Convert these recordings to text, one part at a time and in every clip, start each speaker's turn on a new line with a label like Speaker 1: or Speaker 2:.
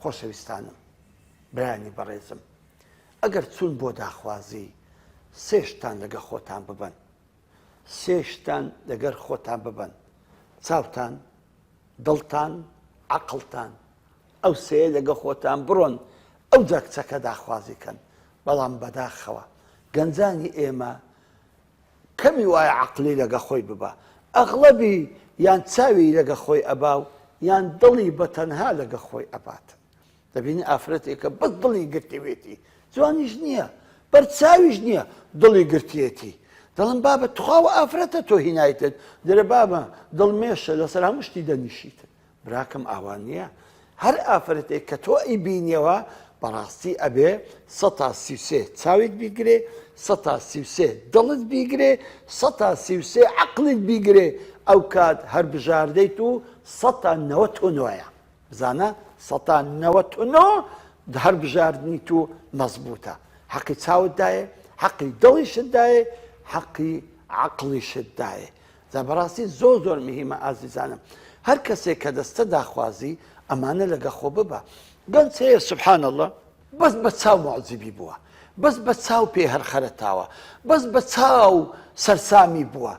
Speaker 1: خۆشەویستانم برایانی بەڕێزم ئەگەر چون بۆ داخوازی سێ شتان لەگە خۆتان ببەن سێ شتان لەگەر خۆتان ببەن چاوتان دڵتان عقلتان ئەو سێ لەگە خۆتان بڕۆن ئەو جاکچەکە داخوازی کەن بەڵام بەداخەوە گەنجانی ئێمە کەمی وایە عەقلی لەگە خۆی ببا ئەغڵەبی یان چاوی لەگە خۆی ئەبا و یان دڵی بە تەنها لەگە خۆی ئەبات دەبینی ئافرەتێکە بەس دڵی گرتەوێتی جوانیش نییە بەر چاویش نییە دڵی گرتێتی دڵم بابە تخواوە ئافرەتە تۆ هینایتت درە بابە دڵمێشە لەسەر هەموو شتی دەنیشیتن براکەم ئاوا نیە هەر ئافرەتێک کە تۆ ئەی بینیەوە بەڕاستی ئەبێ سە تا سی سێ چاویت بیگرێ سە تا سی سێ دڵت بیگرێ سە تا سی سێ عقلت بیگرێ ئەو کات هەر بژاردەیت و سە تا نەوە تۆ نۆە بزانە سە تا نەوە تۆ نۆ هەر بژاردنی تو مەزبوتە حەقی چاوتدایە حەقی دڵیشتدایە حەقی عقلیشتدایە جا بەڕاستی زۆر زۆر مهیمە ئازیزانم هەر کەسێک کە دەستە داخوازی ئەمانە لەگە خۆ ببە گەن سەیە سبحان الله بەس بە چاو معجبی بووە بەس بە چاو پێ هەرخەرەتاوە بەس بە چاو سەرسامی بووە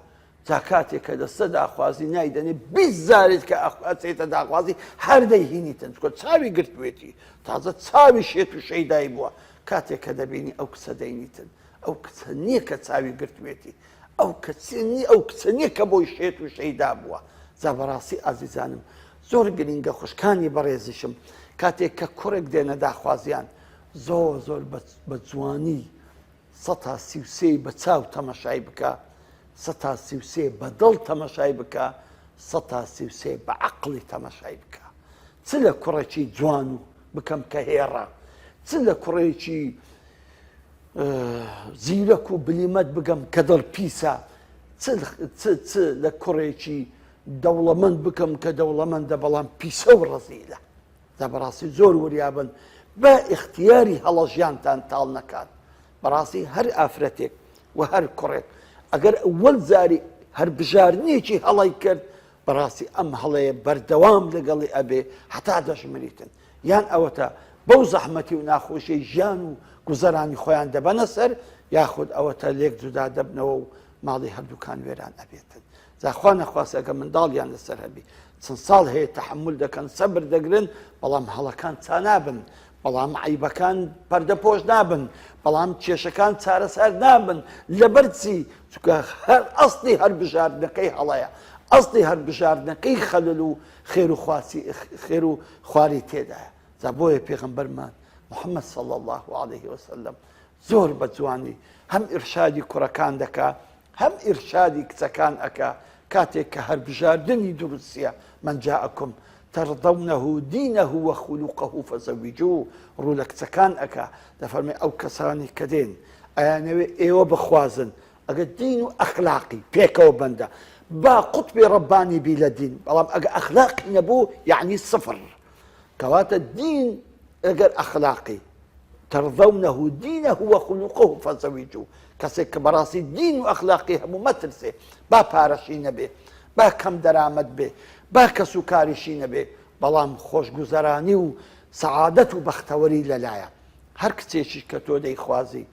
Speaker 1: تا کاتێک کە دەستە داخوازی نایدەنێ بیزارێت کە ئەخواتێتە داخوازی هەردەی هینی تەنجکۆ چاوی گرتوێتی تازە چاوی شێت و شەیدای بووە کاتێک کە دەبینی ئەو کچە دەینیتن ئەو کچە نیە کە چاوی گرتوێتی ئەو کەچە نیە ئەو کچە نیە کە بۆی شێت و شەیدا بووە جا بەڕاستی ئازیزانم زۆر گرینگە خوشکانی بەڕێزیشم کاتێک کە کوڕێک دێنە داخوازیان زۆر زۆر بە جوانی سەتا سی و سێی بە چاو تەمەشای بکە سەتا سی و سێ بە دڵ تەمەشای بکە سەتا سی و سێ بە عەقڵی تەمەشای بکە چ لە کوڕێکی جوان و بکەم کە هێڕە چ لە کوڕێکی زیرەک و بلیمەت بگەم کە دڵ پیسە چ لە کوڕێکی دەوڵەمەند بکەم کە دەوڵەمەندە بەڵام پیسە و ڕزیلە دە بەڕاستی زۆر وریابن بە ئختیاری هەڵەژیانتان تاڵ نەکات بەڕاستی هەر ئافرەتێک و هەر کوڕێک ئەگەر ئەوەل زاری هەر بژارنێکی هەڵی کرد بەڕاستی ئەم هەڵەیە بەردەوام لەگەڵی ئەبێ هەتا دەژمریتن یان ئەوەتا بەو زەحمەتی و ناخۆشیەی ژیان و گوزەرانی خۆیان دەبەنە سەر یاخود ئەوەتا لێک جودا دەبنەوە و ماڵی هەردووکان وێران ئەبێتن زاخوا نەخواست ئەگە منداڵیان لەسەر هەبی چەند ساڵ هەیە تحمل دەکەن سەبر دەگرن بەڵام هەڵەکان چانابن بەڵام عیبەکان پەردە پۆش نابن بەڵام کێشەکان چارەسەر نابن لەبەرچی چکە هەر ئەستی هەر بژاردنەکەی هەڵەیە ئەستی هەر بژاردنەکەی خەلل و خێرو خواسی خێرو خواری تێدایە جا بۆیە پێغەمبەرمان محمد صلی اللە علیه وسلم زۆر بە جوانی هەم ئیرشادی کوڕەکان دەکا هەم ئیرشادی کچەکان ئەکا کاتێک کە هەربژاردنی دروستە من جاءکم ترضونه دینه وخلقه فزوجوه ڕوو لە کچەکان ئەکا دەفەرمێ ئەو کەسانی کە دێن ئەیانەوێ ئێوە بخوازن ئەگەر دین و ئەخلاقی پێکەوە بەندە با قوتبی ڕەبانی بی لە دین بەڵام ئەگە ئەخلاقی نەبوو یعنی سفر کەواتە دین ئەگەر ئەخلاقی ترضونه دينه وخلقه فزوجوه کەسێک کە بەڕاستی دین و ئەخلاقی هەموو مەترسێ با پارەشی نەبێ با کەم دەرامەت بێ با کەس و کاریشی نەبێ بەڵام خۆشگوزەرانی و سەعادەت و بەختەوەری لەلایە هەر کچێکیش کە تۆ دەیخوازی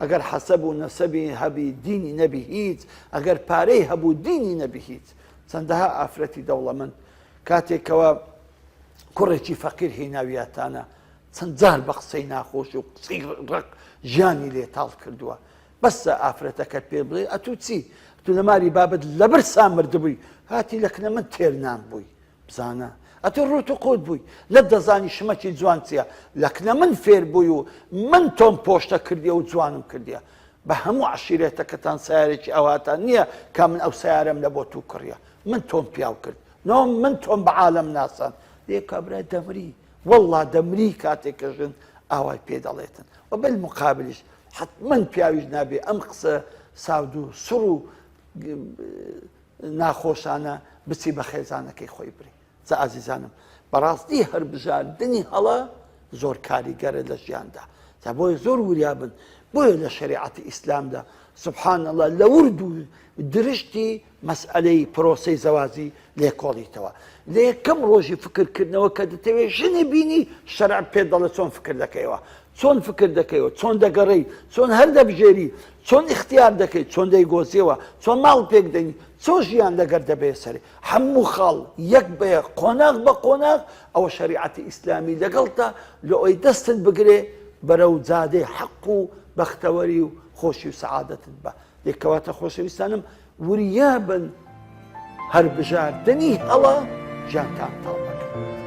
Speaker 1: ئەگەر حەسەب و نەسەبی هەبی دینی نەبی هیچ، ئەگەر پارەی هەبوو دینی نەبی هیچ. چەندەها ئافرەتی دەوڵەمەند کاتێک کەوا کوڕێکی فەقیر هیناویاتانە چەند جار بە قسەی ناخۆش و قسەی ڕەق ژیانی لێ تاڵ کردووە. بەسە ئافرەتەکەت پێ بڵێ ئەتوو چی؟ ئەتوو لە ماری بابت لەبرسا مردبووی هاتی لە کنە من تێر نان بووی. بزانە ئەتو ڕوت و قوت بووی نەت دەزانی شمەکی جوان چیە لەکنە من فێر بووی و من تۆم پۆشتە کردیە و جوانم کردیە بە هەموو عشیرێتەکەتان سیارێکی ئەوهاتان نییە کا من ئەو سیارەم لە بۆ تو کڕە من تۆم پیاو کرد نۆ من تۆم بە عالم ناسان لێ کابرای دەمری والله دەمری کاتێک کە ژن ئاوای پێ دەڵێتن و بەل مقابلیش حتمما پیاویش نابێ ئەم قسە ساودو سڕ و ناخۆشانە بچی بە خێزانەکەی خۆی بری جا ئازیزانم بەڕاستی هەربژاردنی هەڵە زۆر کاریگەرە لە ژیاندا جا بۆیە زۆر وریابن بۆیە لە شریعەتی ئیسلامدا سبحان الله لە ورد و درشتی مەسئلەی پرۆسی زەوازی لێکۆڵیتەوە لە یەکەم ڕۆژی فکرکردنەوە کە دەتەوێت ژنی بینی شەرع پێ دەڵە چۆن فکر دەکەیەوە چۆن فکر دەکەیەوە، چۆن دەگەڕێی، چۆن هەر دەبژێری، چۆن ئیختیار دەکەی، چۆن دەیگۆزیەوە، چۆن ماڵ پێک دەنی، چۆن ژیان لەگەر دەبەیە سەرێ، هەموو خاڵ یەک بە یەک، قۆناغ بە قۆناغ، ئەوە شەریعەتی ئیسلامی لەگەڵتە لەوەی دەستت بگرێ بەرەو جادەی حەق و بەختەوەری و خۆشی و سەعادەتت بە یەک کەواتە خۆشەویستانم وریابن هەر بژاردنی هەڵە ژیانتان تاڵ دەکات.